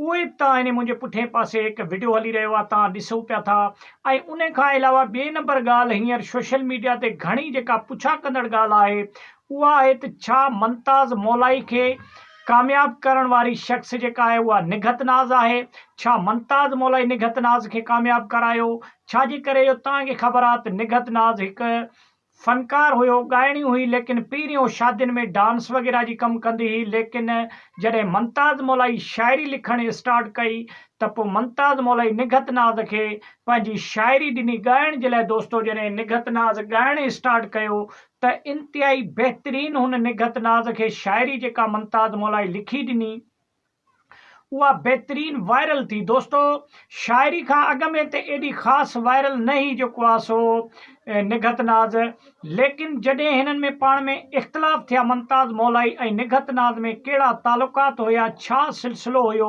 اهو ابتدا هني منهنجي پٺئين پاسي هڪ وڊيو هلي رهيو آهي توهان ڏسو پيا ٿا ۽ انهي کان علاوه ٻي نمبر ڳالهه هينئر سوشل ميڊيا تي گهڻي جيڪا پڇا ڪندڙ ڳالهه آهي اها آهي ته ڇا منتاز مولائي کي ڪامياب ڪرڻ واري شخص جيڪا آهي اها نگهت ناز آهي ڇا منتاز مولائي نگهت ناز کي ڪامياب ڪرايو ڇا جي ڪري جو توهان کي خبر آهي ته نگهت ناز هڪ فنڪار هيو، ڳائڻي هئي ليڪن پهريون شادين ۾ ڊانس وغيره جي ڪم ڪندي هئي ليڪن جڏهن ممتاز مولائي شاعري لکڻ اسٽارٽ ڪئي ته پوء ممتاز مولائي نگهت ناز کي پنهنجي شاعري ڏني ڳائڻ جي لاء دوستو جڏهن نگهت ناز ڳائڻ اسٽارٽ ڪيو ته انتهائي بهترين هن نگهت ناز کي شاعري جيڪا ممتاز مولائي لکي ڏني اها بهترين وائرل ٿي دوستو شاعري کان اڳ ۾ ته ايڏي خاص وائرل نه هي جيڪو آ سو نگهت ناز ليڪن جڏهن هنن ۾ پاڻ ۾ اختلاف ٿيا ممتاز مولائي ۽ نگهت ناز ۾ ڪهڙا تعلقات هيا ڇا سلسلو هيو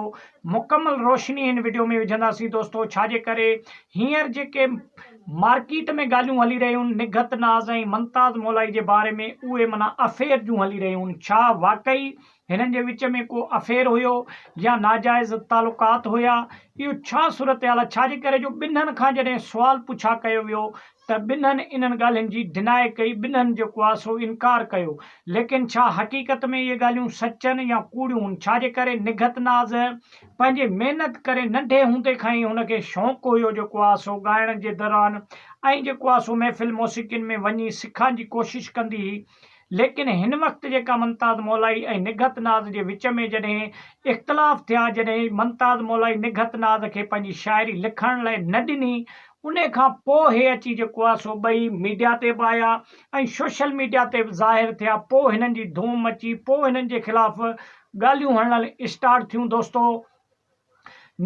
مڪمل روشني هن وڊيو ۾ وجهنداسين دوستو ڇا جي ڪري هينئر جيڪي مارڪيٽ ۾ ڳالهيون هلي رهيون نگهت ناز ۽ ممتاز مولائي جي باري ۾ اهي منا افيئر جون هلي رهيون ڇا واقعي هنن جي وچ ۾ ڪو افيئر هيو يا ناجائز تعلقات هيا، اهو ڇا صورتحال آهي، ڇاجي ڪري جو ٻنهن کان جڏهن سوال پڇا ڪيو ويو ته ٻنهن انهن ڳالهين جي ڊنائي ڪئي، ٻنهن جيڪو آهي سو انڪار ڪيو، ليڪن ڇا حقيقت ۾ اهي ڳالهيون سچن يا ڪوڙيون هن، ڇاجي ڪري نگهت ناز پنهنجي محنت ڪري ننڍي هوندي کان ئي هن کي شونق هيو جيڪو آهي سو ڳائڻ جي دوران ۽ جيڪو آهي سو محفل موسيقين ۾ وڃي سکان جي ڪوشش ڪندي هئي، ليڪن هن وقت جيڪا ممتاز مولائي ۽ نگهت ناز جي وچ ۾ جڏهن اختلاف ٿيا جڏهن ممتاز مولائي نگهت ناز کي پنهنجي شاعري لکڻ لاء نه ڏني ان کان پوء هي اچي جيڪو آ سو ٻئي ميڊيا تي به آيا ۽ سوشل ميڊيا تي به ظاهر ٿيا پوء هنن جي ڌوم مچي پوء هنن جي خلاف ڳالهيون هڻڻ اسٽارٽ ٿيون دوستو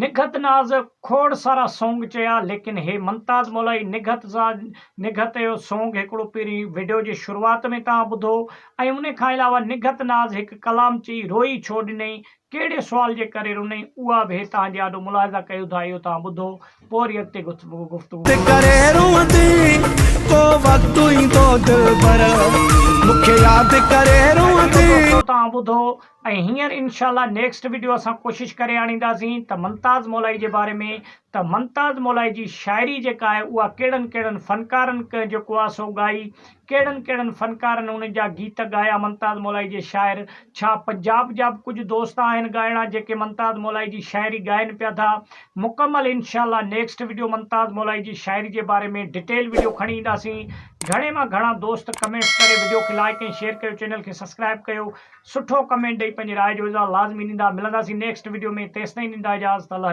نگهت ناز کوڙ سارا سونگ چيا ليڪن هي منتاز مولائي نگهت سا نگهت جو سونگ هڪڙو پهرين وڊيو جي شروعات ۾ توهان ٻڌو ۽ ان کان علاوه نگهت ناز هڪ ڪلام چئي روئي ڇو ڏنئي ڪهڙي سوال جي ڪري رنئي اها به توهان جي آڏو ملاحظه ڪيو ٿا اهو توهان ٻڌو پوء وري اڳتي گفتگو ڪنداسين. ۽ هينئر انشاء الله نيڪسٽ وڊيو اسان ڪوشش ڪري آڻينداسين ته ممتاز مولائي جي باري ۾ ته ممتاز مولائي جي شاعري جيڪا آهي اها ڪهڙن ڪهڙن فنڪارن جيڪو آهي سو ڳائي ڪهڙن ڪهڙن فنڪارن انهن جا گيت ڳايا ممتاز مولائي جي شاعر ڇا پنجاب جا به ڪجهه دوست آهن ڳائڻا جيڪي ممتاز مولائي جي شاعري ڳائن پيا ٿا مڪمل انشاء الله نيڪسٽ وڊيو ممتاز مولائي جي شاعري جي باري ۾ ڊيٽيل وڊيو کڻي اينداسين گهڻي مان گهڻا دوست ڪمينٽس ڪري وڊيو کي لائڪ ۽ شيئر ڪيو چينل کي سبسڪرائب ڪيو. سٺو ڪمينٽ ڏئي پنهنجي راء جو اظهار لازمي ڏيندا ملنداسين نيڪسٽ وڊيو ۾ تيستائين ڏيندا اجازت الله